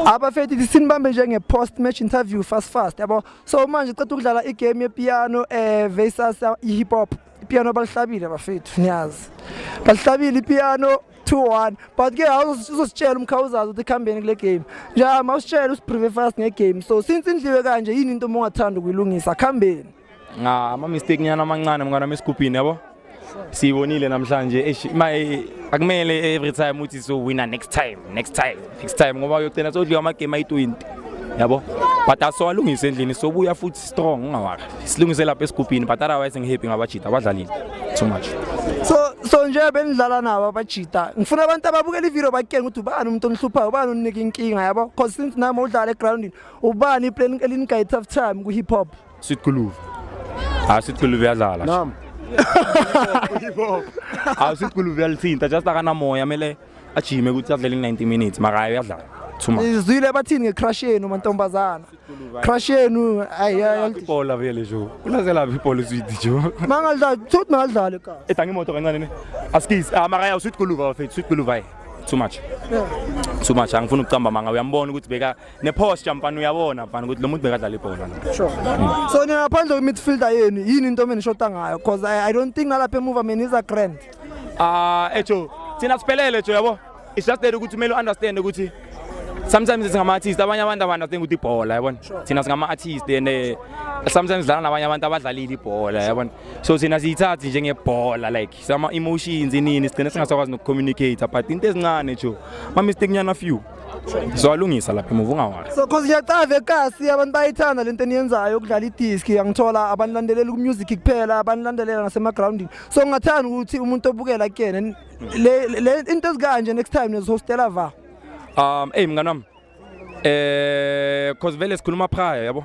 abafethu ithi sinibambe njenge post match interview fast fast yabo so manje ceda ukudlala igame yepiano eh versus i-hip hop ipiano balihlabile abafethu niyazi balihlabile ipiano 2-1 but ke awuzositshela umkhawuzazi ukuthi kuhambeni kule game nje mawusitshela usiprive fast ngegame so since indliwe kanje yini into uma ungathanda ukuyilungisa kuhambeni nga ama mistake nyana amancane mngana mesigubhini yabo siyibonile namhlanje eish maye akumele every time uthi so winner next time next time next time ngoba uyogcina sodliwa ama game ayi20 yabo but asowalungisa endlini sobuya futhi strong ungawaka silungise lapha esigubhini but otherwise ngihappy ngabajita abadlalile too much so so nje benidlala nabo abajita ngifuna abantu ababukela ivideo bakutshenge ukuthi ubani umuntu onihluphayo ubani oninika inkinga yabo because since nami udlala egroundini ubani iplan elinigayitha time ku-hip hop Sweet Guluve. Ah Sweet Guluve yadlala. Nam. Ah Sweet Guluve yalithinta just akana moya mele ajime ukuthi adlele 90 minutes mara hayi uyadlala. Thuma. Izwile bathini ngecrush yenu mantombazana. Crush yenu ayi ayi. Ibhola vele jo. Kulazela ibhola Sweet jo. Mangalidlala, thothi mangalidlala ka. Etha ngimoto kancane ne. Askis ah mara ya Sweet Guluve bafethu Sweet Guluve. Too much. Yeah. Too much angifuni ukucamba manga uyambona ukuthi beka neposture mfana uyabona mfana ukuthi lo muntu bekadlala ibhola no Sure. So nina ngaphandle kwe midfielder yenu yini into menishoda ngayo because I, I don't think nalapha emuva mina is a grand. ah ejo thina siphelele jo yabo it's just that ukuthi kumele understand ukuthi sometimes singama artist abanye abantu abantu think ukuthi ibhola yabona thina singama artist and eh, sometimes dlala nabanye abantu abadlalile ibhola yabona so thina siyithathi njengebhola like sama emotions inini sigcine singasakwazi nokucommunicate but into ezincane jo ma mistake nyana few so alungisa lapha emuva ungawari so cause ngiyacava ekasi abantu bayithanda lento eniyenzayo ukudlala idiski yangithola abanilandelela kumusic kuphela abanilandelela nasemagroundini so ngingathanda ukuthi umuntu obukela kuyena le into ezikanje next time nezihostela va um eyi mngani wami um eh, cause vele sikhuluma phaya yabo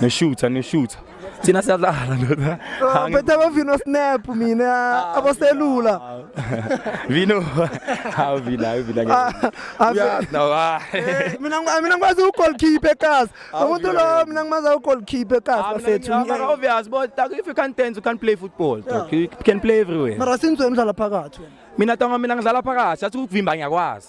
Noshutha noshutha. Thina siyadlala ndoda. Ah, Betha bavino snap mina ah, aboselula. Vino. Hawu vina hawu vina. Ah, ah, Uyazi vi- nawe, ah. Eh, Mina ngi- mina ngikwazi ugoalkeeper ekhasi. Ah, Umuntu vina, lo vina. mina ngimaza ugoalkeeper ekhasi Ah, bafethu. mina- mina obvious but like, if you can't dance you can't play football dog. you can play everywhere Mara sinzwe umdlala phakathi wena. mina tonga mina ngidlala phakathi athi ukuvimba ngiyakwazi